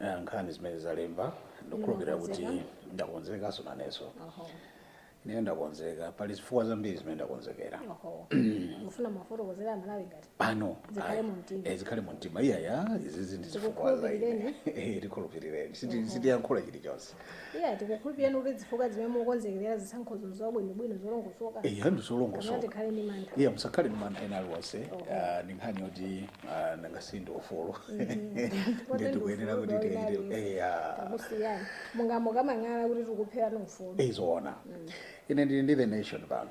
Eh, nkhani zimene zalemba ndikukhulupirira kuti Ndimakonzeka. ndakonzekaso nanenso Oho. ndiye ndakonzeka pali zifukwa zambiri zimene ndakonzekera Oho. Mufuna muwafotokozere aMalawi ngati pano Zikhale ayi, mu mtima. eh, zikhale mu mtima iyaya izizi ndi zifukwa za ine Tikukhulupirireni. Eh, tikhulupirireni Siti- sitiyankhula chilichonse Iya tikukhulupirireni kuti zifukwa zimene mukonzekerera zisankhozo zabwinobwino zolongosoka eya kapena ndizolongosoka tikhale ndi mantha iya musakhale ndi mantha ena aliwonse Ah, ndi nkhani yoti ah, nanga si ndi ufulu Kote ndi ndikuyenera ufulu kuti wa tiyenere winali. eya takusiyani mungamakamang'ale kuti tikupherani ufulu izoona ine ndili ndi the nation pano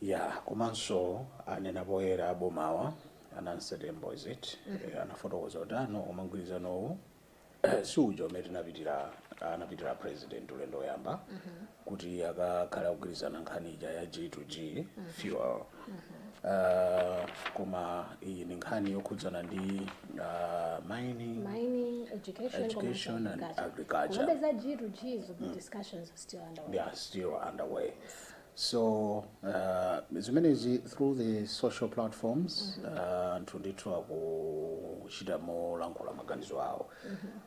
Yeah komanso anena poyera aboma a Nancy Tembo is it Eh, anafotokoza kuti ah no koma mgwirizanowu si uja umene tinapitira anapitira president ulendo woyamba kuti akakhale akugwirizana nkhani ija ya g to g fuel Ah, koma iyi ndi nkhani yokhudzana ndi ah, mining mining education Education komanso and agriculture. komabe za g to g zo discussions are still underway they are still underway So uh, zimenezi through the social platforms uh, anthu ndithu akuchita molankhula maganizo awo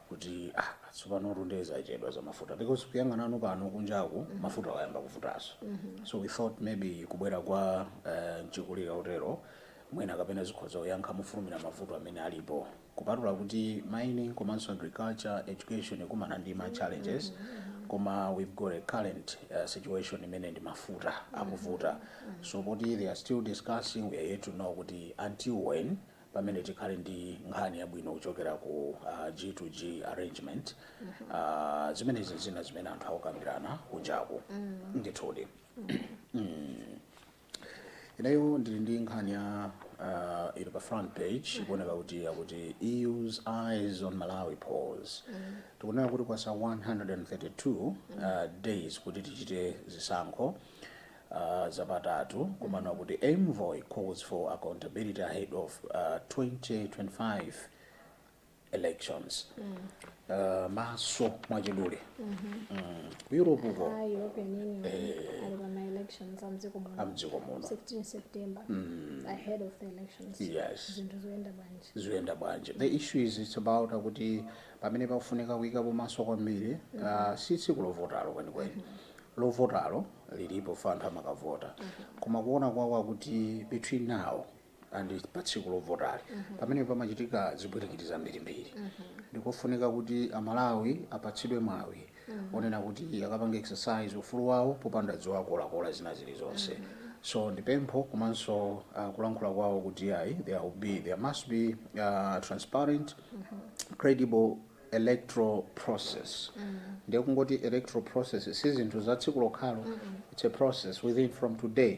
kuti ah, tsopano tu ndiye zachedwa za mafuta because kuyang'ana panopa kunjaku mafuta ayamba kuvutaso so we thought maybe kubwera kwa uh, mchikulire wotero mwina kapena zikhoza kuyankha mofulumira mavuto amene alipo Kupatula kuti mining komanso agriculture education ikumana ndi ma challenges koma we've got a current situation imene ndi mafuta akuvuta so poti they are still discussing we are yet to know kuti until when pamene tikhale ndi nkhani yabwino kuchokera ku uh, G to G arrangement uh, zimenezi zina zimene anthu akukambirana kunjaku ndithudi mm. Ineyo ndili ndi nkhani ya uh, ili pa front page ikuoneka kuti akuti EU's eyes on Malawi polls tikunena kuti kwatsala 132 uh, days kuti tichite zisankho uh, zapatatu komano akuti envoy calls for accountability ahead of uh, 2025 elections uh, maso mwachidule mm. ku europe uko a european union ali pa ma-elections a mdziko muno amdziko muno 16 september ahead of the elections Yes. zinthu zoyenda bwanji zoyenda bwanji the issue is it's about akuti pamene pakufunika kuyikapo maso kwambiri uh, si tsiku lovotalo kwenikweni lovotalo lili pofa anthu amakavota koma kuona kwawo akuti between now and pa tsiku lovotali pamene pamachitika zipwirikiti zambirimbiri ndikofunika kuti amalawi apatsidwe mwawi onena kuti akapanga exercise ufulu wawo popanda ziwakolakola zina zilizonse so ndipempho komanso uh, kulankhula kwawo kuti ayi there will be there must be uh, transparent credible electoral process ndiye kungoti electoral process si zinthu za tsiku lokhalo it's a process within from today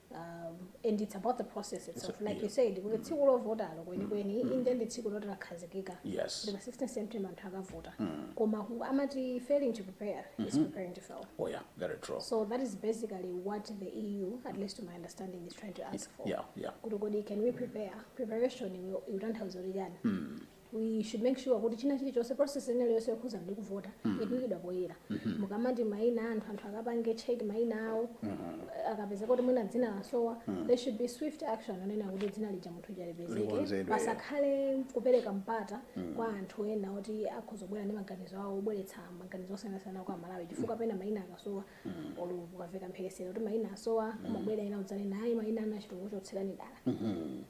um, and it's about the process itself So, like yeah. you said kuti tsiku lovotalo kwenikweni inde ndi tsiku loti lakhazikika Yes. ndipo 16 september anthu akavota koma ku- amati failing to prepare is preparing to fail oh yeah very true so that is basically what the eu at least to my understanding is trying to ask for yeah yeah kuti kodi can we prepare preparation itanthauza kuti chani we should make sure kuti china chilichonse process ina iliyonse yokhuza ndi kuvota ikuikidwa poyera mukamati maina anthu anthu akapange check maina awo akapeza kuti mwina dzina lasowa there should be swift action onena kuti dzina lija munthu uja lipezeke Likonzedwe. pasakhale kupereka mpata kwa anthu ena oti akhoza kubwera ndi maganizo awo obweretsa maganizo osiyanasiyana kwa malawi chifukwa pena maina akasowa olo kukaveka mphekesera kuti maina asowa kumabwera ena udzanena ayi maina anachita kuchotsera dala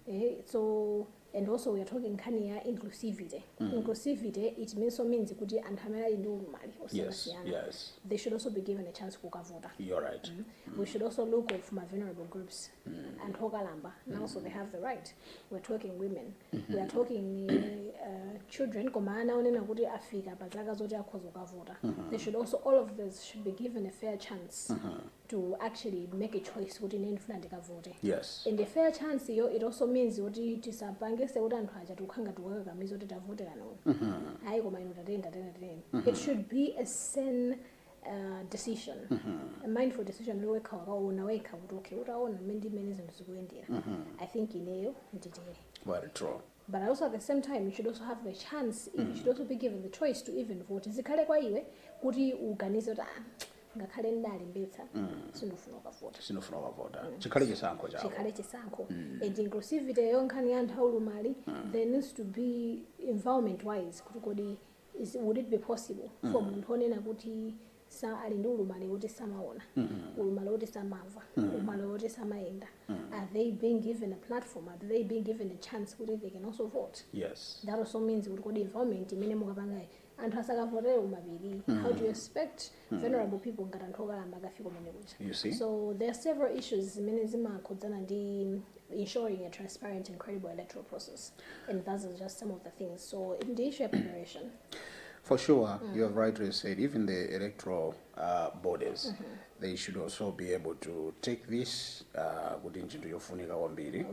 Eh, so and also we are talking nkhani ya inclusivity mm. inclusivity it means so means kuti anthu amene ali ndi ulumali osiyanasiyana yes, yes. they should also be given a chance kukavota You're right. mm. Mm. we should also look of my vulnerable groups mm. anthu okalamba mm. also they have the right we are talking women mm -hmm. we are talking uh, children koma ana onena kuti afika pa zaka zoti akhoza kukavota mm -hmm. they should also all of this should be given a fair chance mm -hmm. to actually make a choice kuti ine ndifuna ndikavote yes and a fair chance yo it also means kuti tisapangise kuti anthu aja tikuka- tikukakamiza kuti tavoterani uyu mm -hmm. ayi koma inu tateni tateni tateni mm -hmm. it should be a sound Uh, decision mm -hmm. a mindful decision kuti wekha wakaona wekha kuti okay utaona mmene ndi mmene zinthu zikuyendera mm -hmm. i think ineyo nditere well true but also at the same time you should also have the chance mm. you should also be given the choice to even vote zikhale kwa iwe kuti uganize kuti ah, ngakhale ndalembetsa mm. sindikufuna kukavota sindikufuna kukavota mm. chikhale chisankho chako chikhale chisankho mm. and inclusivity yo nkhani ya anthu aulumali mm. there needs to be environment wise kuti kodi would it be possible mm. for munthu onena kuti sa ali ndi ulumali woti samaona ulumali woti samamva ulumali woti samayenda are they being given a platform are they being given a chance kuti they can also vote yes that also means kuti kodi environment imene mukapangayi anthu azikavotera kumapiri how do you expect vulnerable people ngati anthu okalamba akafika kumene kuja You see? so there are several issues zimene zimakhudzana ndi ensuring a transparent and credible electoral process and those are just some of the things so ndi issue ya preparation For sure, mm -hmm. you have rightly said, even the electoral uh, bodies, mm -hmm. they should also be able to take this uh, kuti uh, ntchito yofunika kwambiri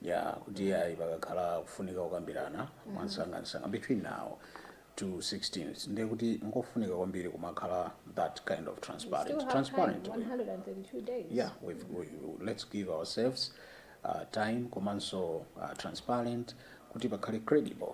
ya kuti mm-hmm. ayi pakakhala kufunika kukambirana mm-hmm. mwansangansanga between now to 16 ndiye kuti ngofunika kwambiri kumakhala that kind of transparent transparent yeah we, we, let's give ourselves uh, time komanso uh, transparent kuti pakhale credible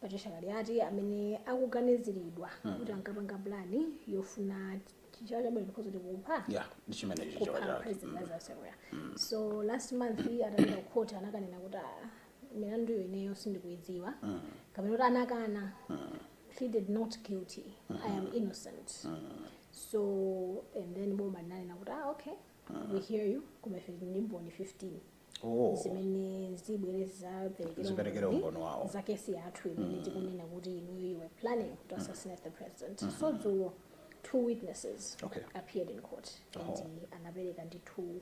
Patricia Kaliati amene akuganiziridwa kuti ankapanga plan yofuna chi- chichewa chabwino tikhoza tikupha ya ndi chimene ichi kupha chaniuyu president Lazarus Chakwera so last month atapita ku court anakanena kuti "Ah, mlanduwo ineyo sindikuudziwa kapena kuti anakana pleaded not guilty i am innocent so and then boma linanena kuti ah okay we hear you koma ife tili ndi mboni 15 Oh. zimene zibwere zidzaperekere zidzaperekere umboni umboni wawo. za kesi yathu imene tikunena kuti inuyo you were planning to assassinate the president so dzulo two witnesses Okay. appeared in court and Oh. uh, anapereka ndithu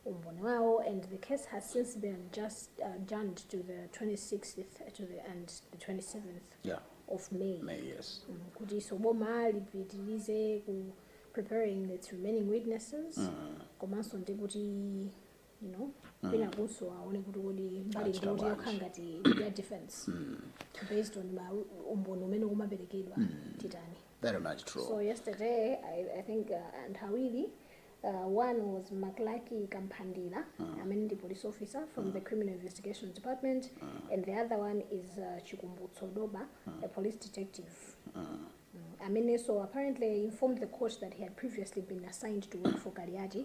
umboni wawo and the case has since been uh, adjourned to the 26th to the, and the 27th Yeah. of may May, yes. Mm, kuti so boma lipitirize ku preparing its remaining witnesses komanso ndi kuti ino mm. kwinakunso aone kuti kodi mbali Achita ngoti bwanji. yokha ngati ya defense based on ma umboni umene umaperekedwa titani very much true So yesterday, I, I think uh, and Hawili, uh, one was Maklaki Kampandila, I mean the police officer from the Criminal Investigation Department, and the other one is uh, Chikumbutso Doba, a police detective. Mm. I mean, so apparently informed the court that he had previously been assigned to work for Kaliati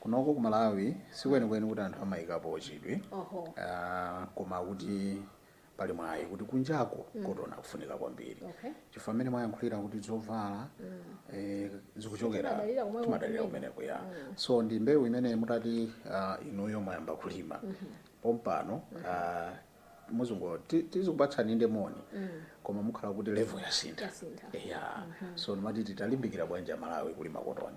Kunoko ku Malawi sikwenikweni kuti anthu amaikapo chidwi koma kuti pali mwayi kuti kunjako kotoni akufunika kwambiri chifukwa mmene mwayankhulira kuti zovala zikuchokera timadalira kumeneko ya so ndi mbewu imene mutati inuyo mwayamba kulima pompano mudzangoti tizikupatsani inde moni koma mukhala kuti level yasintha ya so ndimati titalimbikira bwanji amalawi kulima kotoni.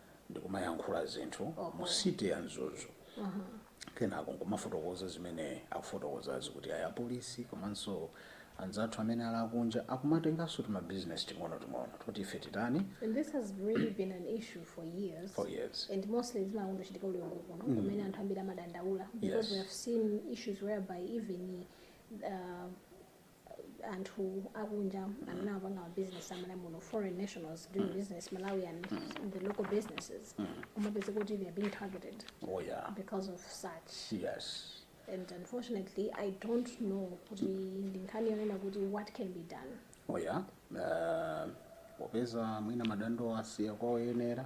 ndikumayankhula zinthu mu city ya Mzuzu kenako nkumafotokoza zimene akufotokozazi kuti ayi apolisi komanso anzathu amene ali akunja akumatenganso tima business ting'onoting'ono toti ife tichite And this has really been an issue for years. for years And mostly it's not only chitika ku Mzuzu kokha kumene anthu ambiri amadandaula. Because Yes. we have seen issues whereby even uh, anthu akunja amene amapanga ma business awo muno foreign nationals doing business Malawi in the local businesses umapeza kuti they are being targeted oh yeah because of such yes and unfortunately i don't know kuti ndi nkhani yonena kuti what can be done oh yeah uh, popeza mwina madando asiyidwa kwa oyenera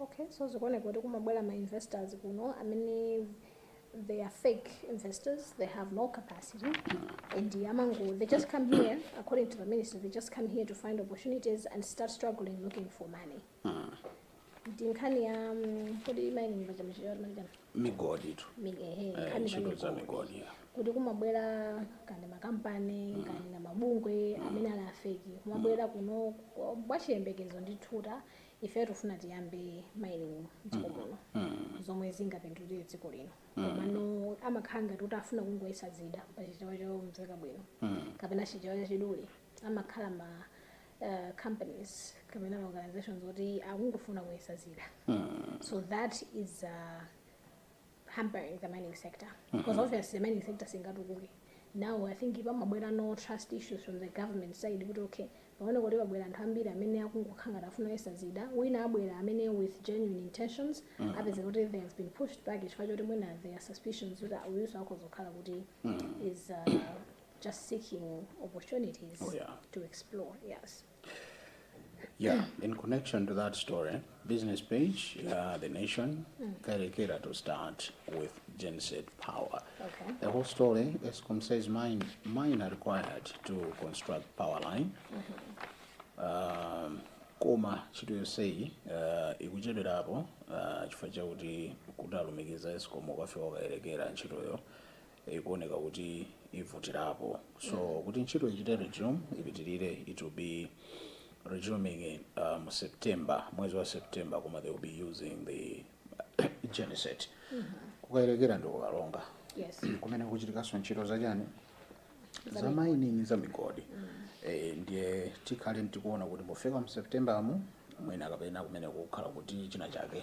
Okay, so zikuoneka kuti kumabwera ma investors kuno amene they are fake investors they have no capacity and amango they just come here according to the minister they just come here to find opportunities and start struggling looking for money ndi nkhani ya mm, kodi mining pachamachiyotmachama migodi tu Eh, nkhani ntchito za migodi yeah. kuti kumabwera kani makampani kani na mabungwe amene ali afeki kumabwera kuno mwa- mwa chiyembekezo ndi thuta ifeyo tikufuna tiyambe mining mdziko muno zomwe zingapindulire dziko lino komano amakhala ngati kuti afuna kungoyesa zida pa chichewa chomveka bwino kapena chichewa chachidule amakhala ma uh, companies kapena ma organizations oti akungofuna kuyesa zida so that is uh, hampering the mining sector because mm -hmm. obviously the mining sector singatukuke now i think pamabwerano trust issues from the government side kuti okay paone kuti pabwera anthu ambiri amene akungokhala ngati afuna kuyesa zida wina abwera amene with genuine intentions mm. apeza kuti they have been pushed back chifukwa choti mwina there are suspicions kuti uyunso akhoza kukhala kuti mm. is uh, just seeking opportunities oh, yeah. to explore yes Yeah, in connection to that story, business page, uh, the nation, Kayelekera to start with genset power. Okay. The whole story, ESCOM says mine, miner required to construct power line. Um, koma ntchito yonseyi uh, ikuchedwerapo uh, chifukwa chakuti kuti alumikize escom ikafike ku Kayelekera ntchitoyo ikuoneka kuti ivutirapo so kuti ntchito ichite resume ipitirire it will be resuming in, uh, mu september mwezi wa september koma they will be using the genset ku Kayelekera ndi ku Karonga Yes. kumene kuchitikanso ntchito zachani za mining za migodi Eh, ndiye tikhale tikuona kuti pofika mu september mo mwina kapena kumeneko kukhala kuti china chake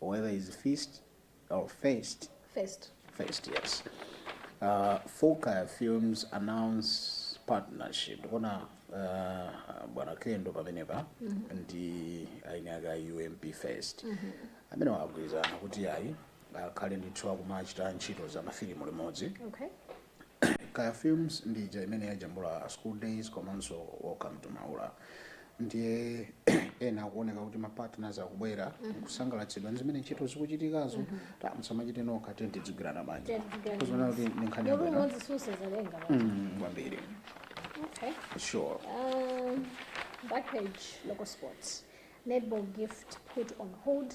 whether it's fist or fest. Fest. Fest, yes. Uh, 4Kaya Films announce partnership. Ndikuona uh, bwana Kendo pamenepa ndi eni ake a UMP Fest. Amene agwirizana kuti ayi akhale ndithu akumachita ntchito za mafilimu limodzi. Okay. Kaya films ndi ija imene yajambula school days komanso welcome to maula ndiye ena akuoneka kuti mapartners akubwera kusangalatsidwa ndi zimene ntchito zikuchitikazo ati musamachite nokha tiye tidzigwirana manja Tidzigwirana. kusonyeza kuti ndi nkhani Ndipo yabwino umodzi pa zazaluso. Mm, kwambiri Okay. sure Um, backpage local sports. Netball gift put on hold.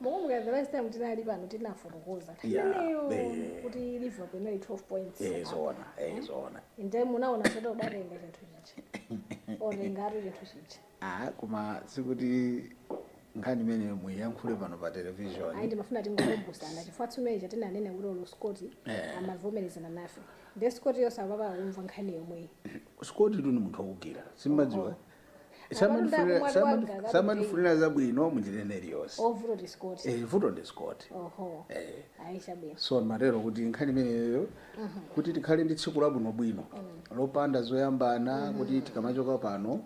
Mukumbuka the last time tinali pano tinafotokoza nthawi Yeah, imeneyo eh. kuti Liverpool inali 12 points. Eh, apart. zoona, eh, zoona. Ndiye munaona kuti idzatenga chinthu chichi. Otengatu chinthu chichi. Ah, koma sikuti nkhani imene tiyankhule pano pa television Ayi ndimafuna tingokumbusana chifukwa tsiku lija tinanena kuti olo Scott Eh. amavomerezana nafe. Ndiye Scott yo sakumva nkhani yomweyi. Scott tu ndi munthu wakujira simumadziwa Samandifuna- saman- samandifunira zabwino munjira ina iliyonse vuto ndi Scott Eh, vuto ndi Scott oho Eh, aisha bwino so ndimatero kuti nkhani imeneyo kuti tikhale ndi tsiku labwinobwino lopanda zoyambana kuti tikamachoka pano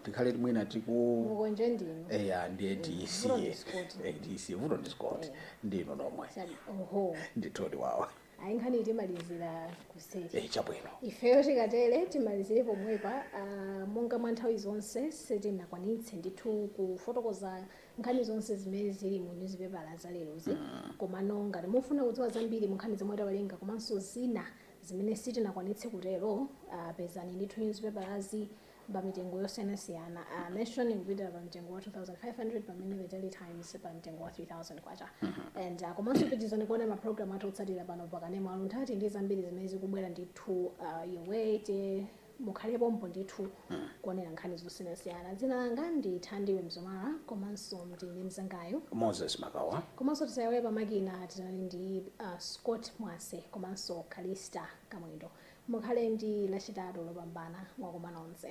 tikhale mwina tikumukonje ndinu eya ndiye Vuto ndi tisiye Scott. Eh, tisiye vuto ndi Scott ndinu nomwe Sabi- oho ndithodi wawa ayi nkhani timalizira kuseri eh, chabwino ifeyo tikatere timalizire pomwepa uh, monga mwa nthawi zonse sitinakwanitse ndithu kufotokoza nkhani zonse zimene zili mu nyuzipepala za lerozi mm. komano ngati mufuna kudziwa zambiri mu nkhani zomwe tawerenga komanso zina zimene sitinakwanitse kutero uh, pezani ndithu nyuzipepalazi uh, pa mitengo yosiyanasiyana uh, nation ikupitira pa mtengo wa 2500 pamene the daily times pa mtengo wa 3000 kwacha and uh, komanso pitirizani kuona maprogramu athu otsatira pano pakanema aluntati ndi zambiri zimene zikubwera ndithu uh, yowete mukhale pompo ndithu kuonera nkhani zosiyanasiyana dzina langa ndi thandiwe mzomala komanso ndi mzangayo moses makawa komanso tisaiwale pamakina tinali ndi uh, scott mwase komanso kalista kamwendo Mukhale ndi Lachitatu Lopambana. Mwakoma nonse.